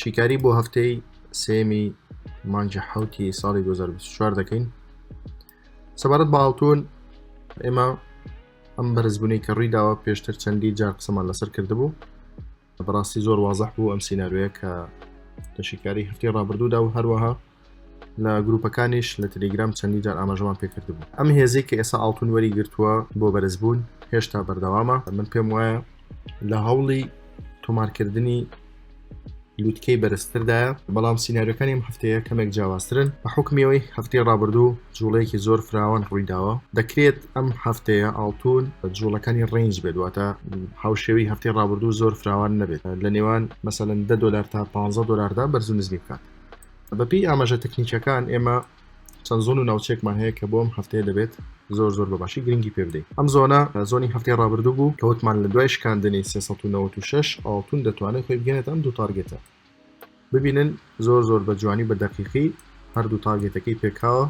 شیکاری بۆ هەفتەی سێمی مانجی حوتی ساڵی 2024 دەکەین سەبارەت بە ئاڵتون ئێمە ئەم بەرزبوونەی کە ڕوویداوە پێشتر چەندی جار قسەمان لەسەر کردبوو بەڕاستی زۆر وازح بوو ئەم سینناروەیە کە لە شیکاری هەفتی ڕابردوودا و هەروەها لە گروپەکانیش لە تلیگرام چەندی جار ئاماژەمان پێکردبوو ئەم هێزەی کە ئێسا ئاڵتون وەری گرتووە بۆ بەرزبوون هێشتا بەردەوامە من پێم وایە لە هەوڵی تۆمارکردنی لوتکەی بەرزتردایە بەڵام سینناریەکانیم هەفتەیە کەمێک جیاوازترن بە حکمیەوەی هەفتەی ڕابردوو جوڵەیەکی زۆر فراوان ڕوویداوە دەکرێت ئەم هەفتەیە ئاڵتون جوڵەکانی ڕنج بێت واتە هاوشێوی هەفتەی ڕابردوو زۆر فراوان نەبێت لە نێوان مەسەن دە دلار تا 15 دلاردا بەرزونزمی بکات بەپێی ئاماژە تەکنیکەکان ئێمە چەند زۆن و ناوچێکمان هەیە کە بۆم هەفتەیە دەبێت زۆر زۆر بە باشی گرنگی پێ بدەین ئەم زۆنە زۆنی هەفتەی ڕابردوو بوو کەوتمان لە دوای شکاندنی 396 ئاڵتون دەتوانێت خۆی بگەێت ئەم دوو تارگێتە ببینن زۆر زۆر بە جوانی بە دەقیقی هەردوو تارگێتەکەی پێکاوە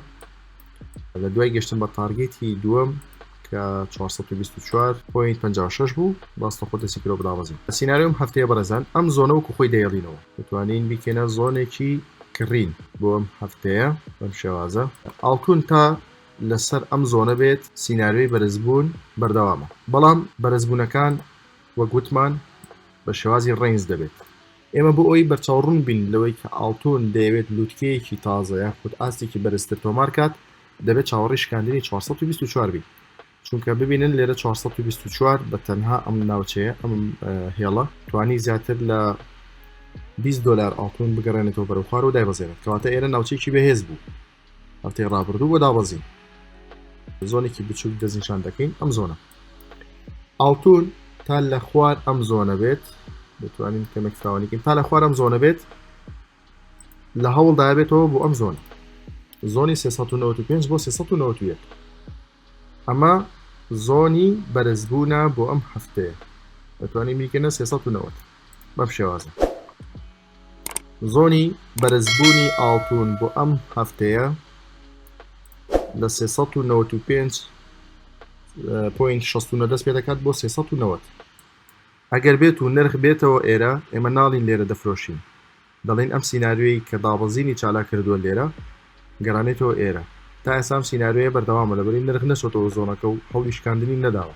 لە دوای گەشتن بە تارگێتی دووەم کە 424 پوینت 56 بوو باستە خۆ دەسی کرۆ بدابەزین سینناریۆم هەفتەیە بەرەزان ئەم زۆنە وەکو خۆی دەیڵینەوە دەتوانین بیکەینە زۆنێکی کڕین بۆ ئەم هەفتەیە بەم شێوازە ئاڵتون تا لەسەر ئەم زۆنە بێت سینناریۆی بەرزبوون بەردەوامە بەڵام بەرزبوونەکان وەگوتمان بە شێوازی ڕنج دەبێت ئێمە بۆ ئەوەی بەرچاوڕوون بین لەوەی کە ئاڵتوون دەیەوێت لووتکەیەکی تازە یاخود ئاستێکی بەرزتر تۆمار بکات، دەبێت چاوەڕێی شکاندنی چوار سەد و بیست و چوار بین. چونکە ببینن لێرە چوار سەد و بیست و چوار بە تەنها ئەم ناوچەیە، ئەم هێڵە توانی زیاتر لە بیست دۆلار ئاڵتوون بگەڕێنێتەوە بەرەو خوارەوە دایبەزێنێت، کەواتە ئێرە ناوچەیەکی بەهێز بوو. هەفتەی ڕابردوو بۆ دابەزین زۆنێکی بچووک دەستنیشان دەکەین ئەم زۆنە ئاڵتون تا لە خوار ئەم زۆنە بێت دەتوانین کەمێک فراوانیکەین تا لە خوار ئەم زۆنە بێت لە هەوڵدا بێتەوە بۆ ئەم زۆن زۆنی 395 بۆ 391 ئەمە زۆنی بەرزبوونە بۆ ئەم هەفتەیە دەتوانین بیکەنە سێ سەد و نەوەد بەم شێوازە زۆنی بەرزبوونی ئاڵتون بۆ ئەم هەفتەیە لە سێ سەد و نەوەد و پێنج پوینت شەستونە دەست پێ دەکات بۆ سێ سەد و نەوەد ئەگەر بێت و نرخ بێتەوە ئێرە ئێمە ناڵین لێرە دەفرۆشین دەڵێن ئەم سیناریۆیەی کە دابەزینی چالاک کردووە لێرە گەرانێتەوە ئێرە تا ئێستا ئەم سیناریۆیە بەردەوامە لەبری نرخ نەچۆتەوە زۆنەکە و هەوڵی شکاندنی نەداوە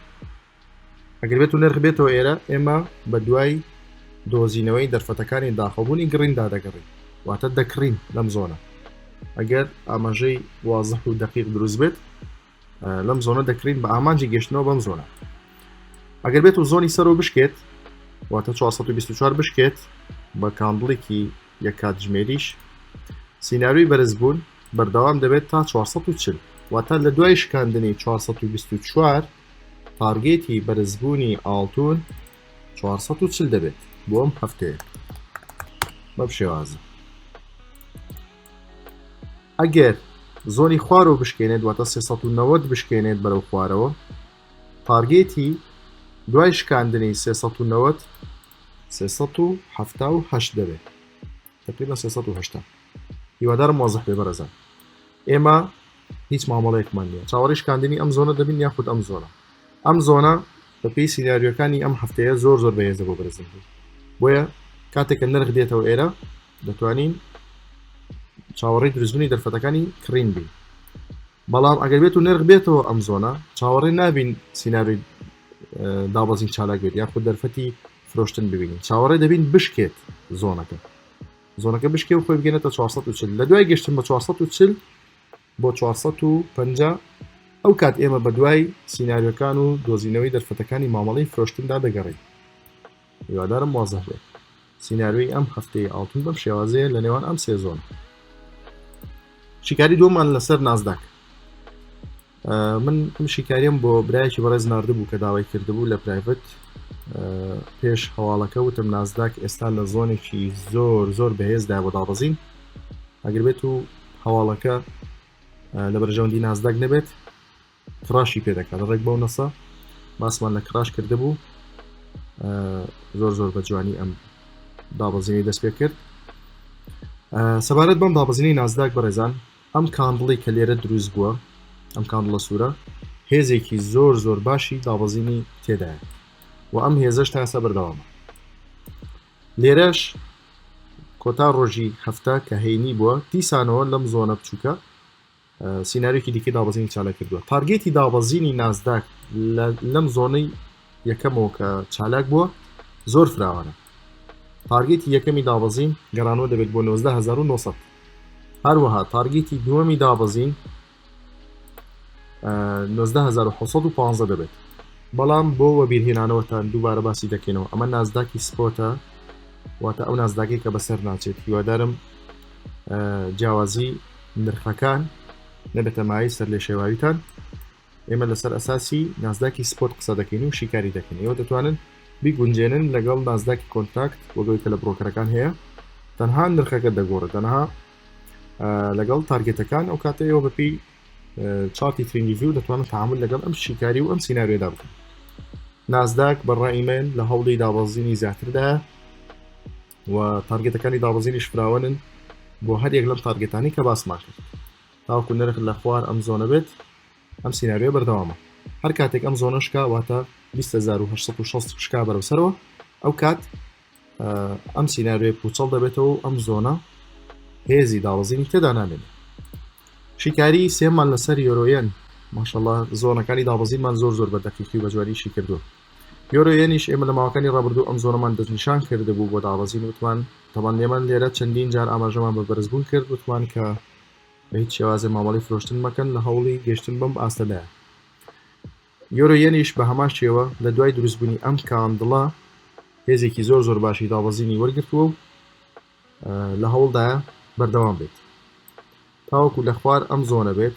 ئەگەر بێت و نرخ بێتەوە ئێرە ئێمە بە دوای دۆزینەوەی دەرفەتەکانی داخەبوونی گڕیندا دەگەڕین واتە دەکڕین لەم زۆنە ئەگەر ئاماژەی وازح و دەقیق دروست بێت لەم زۆنە دەکرین بە ئامانجی گەشتنەوە بەم زۆنە ئەگەر بێت و زۆنی سەرۆ بشکێت واتە 424 بشکێت بە کاندڵێکی یە کاتژمێریش سینناروی بەرزبوون بەردەوام دەبێت تا 440 واتە لە دوای شکاندنی 424 تارگێتی بەرزبوونی ئاڵتون 440 دەبێت بۆ ئەم هەفتەیە بەم شێوازە ئەگەر زۆنی خوارەوە بشکێنێت واتە سێ سەد و نەوەد بشکێنێت بەرەو خوارەوە تارگێتی دوای شکاندنی سێ سەد و نەوەد سێ سەد و حەفتا و هەشت دەبێت تقریبا سێ سەد و هەشتا هیوادارم وازح بێ بەرەزان ئێمە هیچ مامەڵەیەکمان نییە چاوەڕی شکاندنی ئەم زۆنە دەبین یاخود ئەم زۆنە ئەم زۆنە بەپی سینناریۆکانی ئەم هەفتەیە زۆر زۆر بەهێزە بۆ بەرزنگی بۆیە کاتێکە نرخ دێتەوە ئێرە دەتوانین چاوەڕی دروستبنی دەرفەتەکانی کڕین بین بەڵام ئەگەر بێت و نرخ بێتەوە ئەم زۆنە چاوەڕی نابین سینناروی دابەزین چالاک بێت یا خود دەرفەتی فرۆشتن ببینین چاوەڕێ دەبین بشکێت زۆنەکە زۆنەکە بشکێ و خۆی بگەێتە 440 لە دوای گەشتن بە 440 بۆ چوار سەد و پەنجا، ئەو کات ئێمە بەدوای سیناریۆکان و دۆزینەوەی دەرفەتەکانی مامەڵەی فرۆشتندا دەگەڕێین. هیوادارم وازح بێت. سیناریۆی ئەم هەفتەی ئاڵتون بەم شێوازەیە لە نێوان ئەم سێ زۆن. شیکاری دووەمان لەسەر نازداک. من ئەم شیکاریم بۆ برایەکی بەڕێز نردبوو کە داوای کردبوو لە پرایڤت پێش هەواڵەکە وتم نازداک ئێستا لە زۆنێکی زۆر زۆر بەهێزدا بۆ دابەزین ئەگربێت و هەواڵەکە لە بەرژەوەندی نازداک نەبێت کراشی پێ دەکات ڕێک بەو نەسە باسمان لە کراش کرد بوو زۆر زۆر بە جوانی ئەم دابەزینی دەست پێ کرد سەبارەت بەم دابەزینی نازداک بەڕێزان ئەم کاندڵی کە لێرە دروست بووە ئەم کاندڵە سوورە هێزێکی زۆر زۆر باشی دابەزینی تێدایە و ئەم هێزش تاسە بەردەوامە لێرەش کۆتا ڕۆژی هەفتە کە هەینی بووە دیسانەوە لەم زۆنە بچووکە سینناریکی دیکە دابزینی چالا کردووە تارگێتی دابەزینی نازداک لەم زۆنەی یەکەمەوە کە چالاک بووە زۆر فراوانە تارگێتی یەکەمی دابەزین گەرانەوە دەبێت بۆ 1970 هەروەها تارگێتی دووەمی دابەزین 19715 دەبێت بەڵام بۆ وەبیرهێنانەوەتان دووبارە باسی دەکەینەوە ئەمە نازداکی سپۆتە واتە ئەو نازداگەی کە بەسەر ناچێت هیوادارم جیاوازی نرخەکان نەبێتە مای سەر لێ شێواویتان ئێمە لەسەر ئەساسی نازداکی سپۆت قسە دەکەین و شیکاری دەکەین ئەو دەتوانن بیگونجێنن لەگەڵ نازداکی کۆنتاکت وەگەڵی کە لە بڕۆکەرەکان هەیە تەنها نرخەکە دەگۆڕێت تەنها لەگەڵ تارگێتەکان ئەو کاتە ئێوە بەپی چاتی ترینگیزی و دەتوانن تعامل لەگەڵ ئەم شیکاری و ئەم سینناوێدا بکەن نازداک بەڕای من لە هەوڵی دابەزینی زیاتردا و تارگێتەکانی دابەزینی شفراوەن بۆ هەر یەک لەم تارگێتانی کە باسمان کرد تاوکو نرخ لە خوار ئەم زۆنە بێت ئەم سینناوێ بەردەوامە هەر کاتێک ئەم زۆنەشکا واتە 1960 شکا بەرەسەرەوە ئەو کات ئەم سینناروێ پوچەڵ دەبێتەوە ئەم زۆنە هێزی داڵزینی تێدا نامێن شیکاری سێمان لەسەر یۆرۆیەن ماشەڵە زۆنەکانی دابزیمان زۆر زۆر بە دەقیقی بە جوانیشی کردووە یۆرۆیەنیش ئێمە لە ماوەکانی ڕابردوو ئەم زۆنەمان دەستنیشان کردبوو بۆ دابزین وتمان تەمان لێمان لێرە چەندین جار ئاماژەمان بە بەرزبوون کرد وتمان کە بە هیچ شێوازە مامەڵی فرۆشتن مەکەن لە هەوڵی گەشتن بەم ئاستەدایە یۆرۆ یەنیش بە هەمان شێوە لە دوای دروستبوونی ئەم کاندڵە هێزێکی زۆر زۆر باشی دابەزینی وەرگرتووە و لە هەوڵدایە بەردەوام بێت تاوەکو لە خوار ئەم زۆنە بێت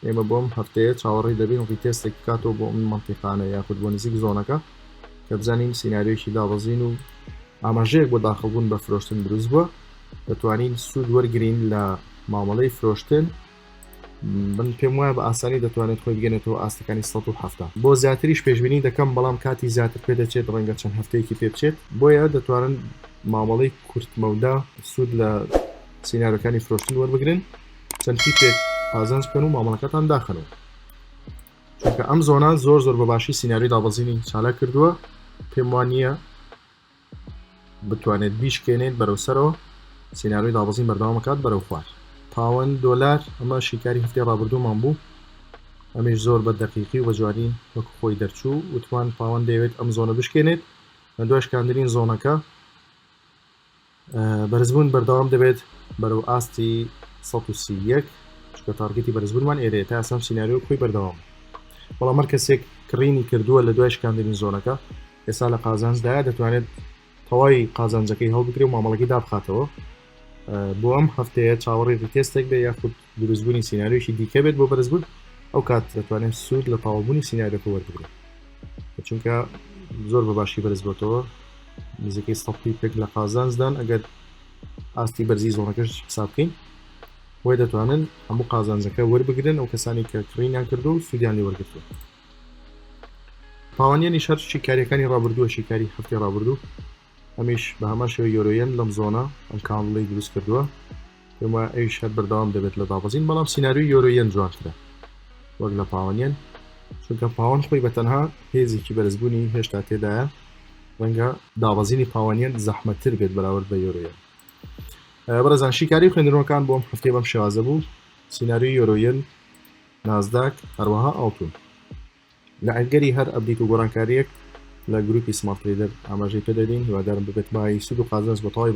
ئێمە بۆم هەفتەیە چاوەڕی دەبین ڕیتێستێک بکاتەوە بۆ ئەم منتیقانە یاخود بۆ نزیک زۆنەکە کە بزانین سینناریۆکی دابەزین و ئاماژەیەک بۆ داخڵبوون بە فرۆشتن دروست بووە دەتوانین سوود وەرگین لە مامەڵەی فرۆشتن من پێم وایە بە ئاسانی دەتوانێت خۆی بگەنێتەوە ئاستەکانی 1970 بۆ زیاتریش پێشببینی دەکەم بەڵام کاتی زیاتر پێ دەچێت ڕەنگە چەند هەفتەیەکی پێ بچێت بۆیە دەتوانن مامەڵەی کورتمەودا سوود لە سینارەکانی فرۆشتن وەربگرن چەند تیپێک پازانج بکەن و مامەڵەکەتان داخەنەوە چونکە ئەم زۆنە زۆر زۆر بەباشی سیناری دابەزینی چالا کردووە پێم وان نییە بتوانێت بیشکێنێت بەرەو سەرەوە سینناروی دابەزین بەردەوام بکات بەرەو خوار پاوەند دۆلار ئەمە شیکاری هەفتەی ڕابردوومان بوو ئەمیش زۆر بە دەقیقی و بەجوانی وەک خۆی دەرچوو وتمان پاوەند دەیەوێت ئەم زۆنە بشکێنێت لە دوای شکاندنی زۆنەکە بەرزبوون بەردەوام دەبێت بەرەو ئاستی 131 چکە تارگەتی بەرزبوونمان ئێرێ تا ئەسم سینناریۆ خۆی بەردەوام بەڵام مەر کەسێک کڕینی کردووە لە دوای شکاندنی زۆنەکە ئێستا لە قازانجدا دەتوانێت تەواوی قازانجەکەی هەڵبگرێ و مامەڵەکەی دابخاتەوە بۆ ئەم هەفتەیە چاوەڕی ڕیتێستێک بێ یاخود دروستبوونی سیناریۆیەکی دیکە بێت بۆ بەرزبوون ئەو کات دەتوانێت سوود لە تاوابوونی سیناریۆکە وەربگرێت چونکە زۆر بە باشی بەرز بۆتەوە نزیکەی سەی پێک لە قازانزدان ئەگەر ئاستی بەرزی زۆنەکەش حساب بکەین بۆی دەتوانن هەموو قازانجەکە وەربگرن ئەو کەسانی کە کڕینیان کردو و سوودیان لێ وەرگتووە پاوانیانی شەر شیکاریەکانی ڕابردووە شیکاری هەفتی ڕابردوو ئەمیش بە هەمان شێوە یۆرۆ یەن لەم زۆنە ئەم کانڵەی دروست کردووە پێم وایە ئەویش هەر بەردەوام دەبێت لە دابەزین بەڵام سیناریۆی یۆرۆ یەن جوانترە وەک لە پاوەن یەن چونکە پاوەن خۆی بە تەنها هێزێکی بەرزبوونی هێشتا تێدایە ڕەنگە دابەزینی پاوەن یەن زەحمەتتر بێت بەراورد بە یۆرۆ یەن بەڕێزان شیکاری خوێندنەوەکان بۆم هەفتەی بەم شێوازە بوو سیناریۆی یۆرۆ یەن نازداک هەروەها ئاڵتون لە ئەگەری هەر ئەبدیت و گۆرانکاریەک لە گروپی سمارت ترەیدەر ئاماژەی پێ دەدەین هیوادارم ببێت مایەی سود و قازانج بۆ تەواوی